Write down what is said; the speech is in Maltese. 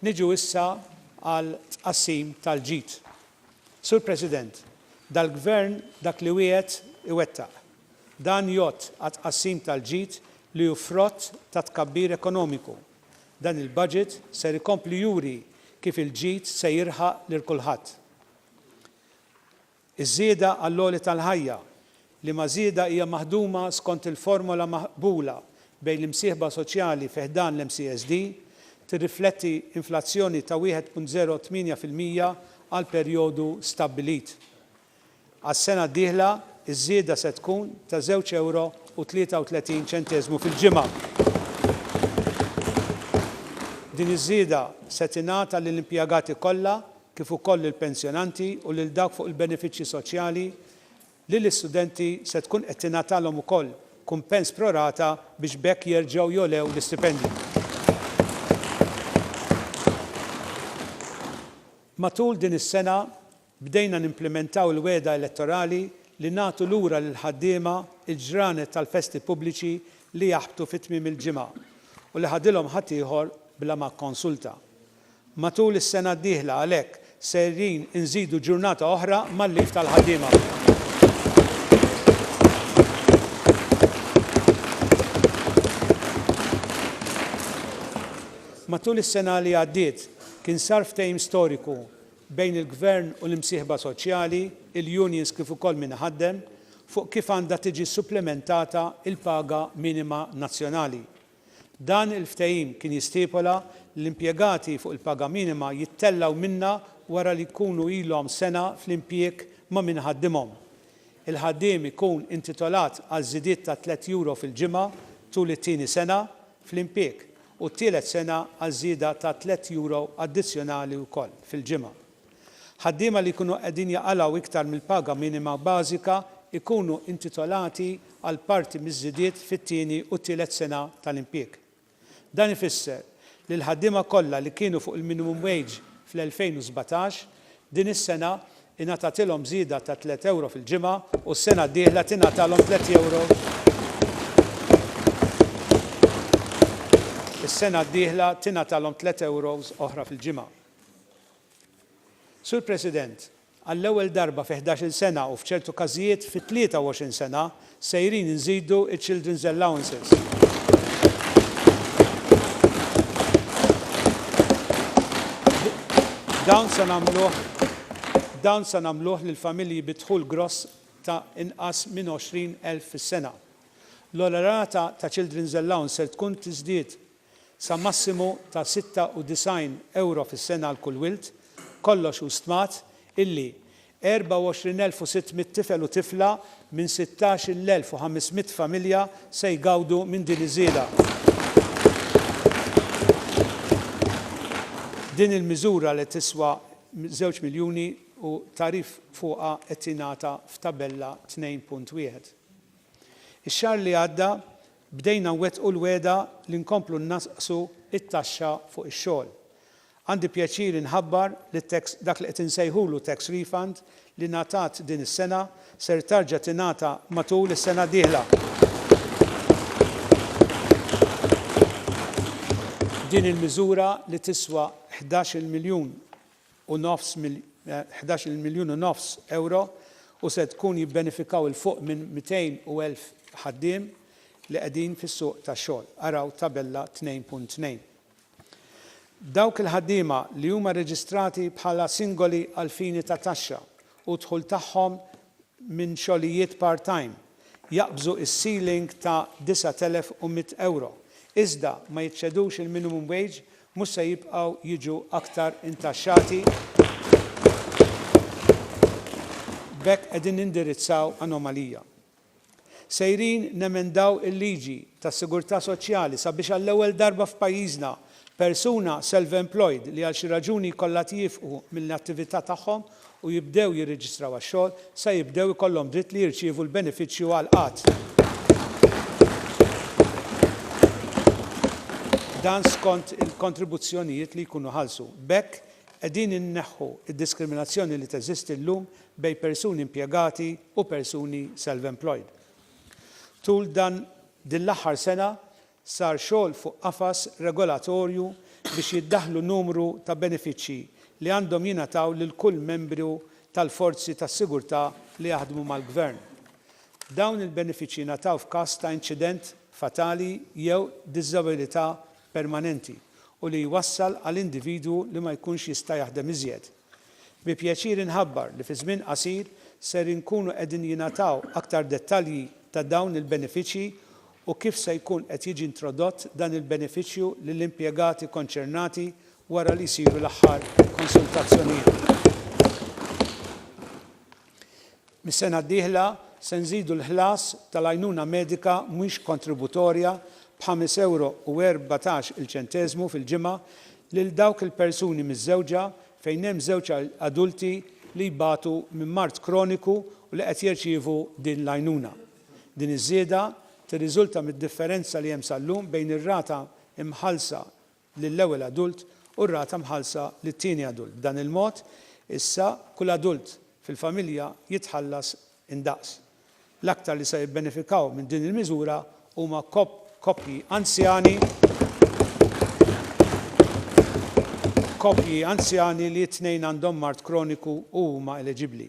Niġu issa għal tqassim tal-ġid. Sur President, dal-Gvern dak li wiegħed iwettaq. Dan jgħodd għat-tqassim tal-ġid li hu frott tat-tkabbir ekonomiku. Dan il-budget ser ikompli juri kif il-ġid se jirħaq lil kulħadd. Iż-żieda għall-għoli tal-ħajja, liema żieda hija maħduma skont il-formola maqbula bejn l-imsieħba soċjali fi ħdan l-MCSD, tirrifletti inflazzjoni ta' 1.08 fil-mija għall-perjodu stabbilit. Għas-sena d-dieħla, iż-żieda se tkun ta' żewġ ewro u 33 ċenteżmu fil-ġimgħa. Din iż-żieda se tingħata lill-impjegati kollha kif ukoll lill-pensjonanti u lil dawk fuq il-benefiċċji soċjali, li l-istudenti se tkun qed tingħatalhom ukoll kumpens pro rata biex b'hekk jerġgħu jogħlew l-istipendju. Matul din is-sena bdejna nimplimentaw il-wegħda elettorali li nagħtu lura lill-ħaddiema l-ġranet tal-festi pubbliċi li jaħbtu fi tmiem il-ġimgħa u li ħadilhom ħaddieħor bla ma kkonsulta. Matul is-sena d-dieħla għalhekk sejrin inżidu ġurnata oħra mal-leave tal-ħaddiema. Matul is-sena li għaddiet kien sar ftehim storiku bejn il-Gvern u l-imsieħba soċjali, il-unions kif ukoll min iħaddem, fuq kif għandha tiġi supplimentata l-paga minima nazzjonali. Dan il-ftehim kien jistipola li l-impjegati fuq il-paga minima jittellgħu minnha wara li jkunu ilhom sena fl-impjieg ma' min iħaddimhom. Il-ħaddiem ikun intitolat għal żidiet ta' tliet Euro fil-ġimgħa tul it-tieni sena fl-impieg u t-tielet sena għal żieda ta' tliet Euro addizzjonali wkoll fil-ġimgħa. Ħaddiema li jkunu qegħdin jaqalgħu iktar mill-paga minima bażika jkunu intitolati għal parti miż-żidiet fit-tieni u t-tielet sena tal-impjieg. Dan ifisser li l-ħaddiema kollha li kienu fuq il-minimum wage fl-2017, din is-sena ingħatatilhom żieda ta' tliet ewro fil-ġimgħa u s-sena d-dieħla tingħatalhom tliet ewro is-sena d-dieħla tingħatalhom tliet ewros oħra fil-ġimgħa. Sur President, għall-ewwel darba fi ħdax-il sena u f'ċertu każijiet fi 23 sena, sejrin inżidu ċ-children's allowances. Dawn se nagħmluh dawn se nagħmluh lil familji bi dħul gross ta' inqas minn 20,000 fis-sena. L-ogħla rata ta' children's allowance ser tkun tiżdied sa massimu ta' 96 ewro fis-sena għal kull wild, kollox hu stmat illi 24,600 tifel u tifla minn 16,500 familja se jgawdu minn din iż-żieda. Din il-miżura li tiswa żewġ miljuni u tagħrif fuqha qed jingħata f'Tabella 2.1. Ix-xahar li għadda Bdejna nwettqu l-wegħda li nkomplu nnaqqsu t-taxxa fuq ix-xogħol. Għandi pjaċir inħabbar li t-tax, dak li qed insejħulu tax refund, li ngħatat din is-sena, ser tarġa' tingħata matul is-sena d-dieħla. Din il-miżura li tiswa ħdax-il miljun u nofs mil. Ħdax il miljun u nofs ewro u se tkun jibbenefikaw 'il fuq minn mitejn u elf ħaddiem li qegħdin fis-suq tax-xogħol, araw Tabella tnejn punt tnejn. Dawk il-ħaddiema li huma rreġistrati bħala singoli għall-fini ta' taxxa u d-dħul tagħhom minn xogħlijiet part-time jaqbżu s-ceiling ta' disgħat elef u mitt ewro, iżda ma jiċċedux il-minimum wage mhux se jibqgħu jiġu aktar intaxxati. B'hekk qegħdin nindirizzaw anomalija. Sejrin nemendaw il-liġi tas-sigurtà soċjali sabiex għall-ewwel darba f'pajjiżna persuna self-employed li għal xi raġuni jkollha tieqfu mill-attività tagħhom u jibdew jirreġistraw għax-xogħol sa jibdew ikollhom dritt li jirċievu l-benefiċċju għal qgħad ta' dan skont il-kontribuzzjonijiet li jkunu ħallsu. B'hekk, qegħdin inneħħu d-diskriminazzjoni li teżisti llum bejn persuni impjegati u persuni self-employed. Tul dan din l-aħħar sena, Sar xogħol fuq qafas regolatorju biex jiddaħħlu numru ta' benefiċċji li għandhom jingħataw lil kull membru tal-forzi tas-sigurtà li jaħdmu mal-Gvern. Dawn il-benefiċċji jingħataw f'każ ta' inċident fatali jew diżabilità permanenti u li jwassal għal individwu li ma jkunx jista' jaħdem iżjed. Bi pjaċir inħabbar li fi żmien qasir ser inkunu qegħdin jingħataw aktar dettalji ta' dawn il-benefiċċji u kif se jkun qed jiġi introdott dan il-benefiċċju lill-impjegati konċernati wara li jsiru l-aħħar konsultazzjonijiet. Mis-sena d-dieħla se nżidu l-ħlas tal-għajnuna medika mhux kontributorja b'ħames ewro u erbatax il-ċenteżmu fil-ġimgħa lil dawk il-persuni miżżewġa fejn hemm żewġ adulti li jbatu minn mard kroniku u li qed jirċievu din l-għajnuna. Din iż-żieda tirriżulta mid-differenza li hemm sal-lum bejn ir-rata mħallsa lill-ewwel adult u r-rata mħallsa lit-tieni adult. B'dan il-mod, issa kull adult fil-familja jitħallas indaqs. L-aktar li se jibbenefikaw minn din il-miżura huma koppji anzjani, koppji anzjani li t-tnejn għandhom mard kroniku u huma eleġibbli.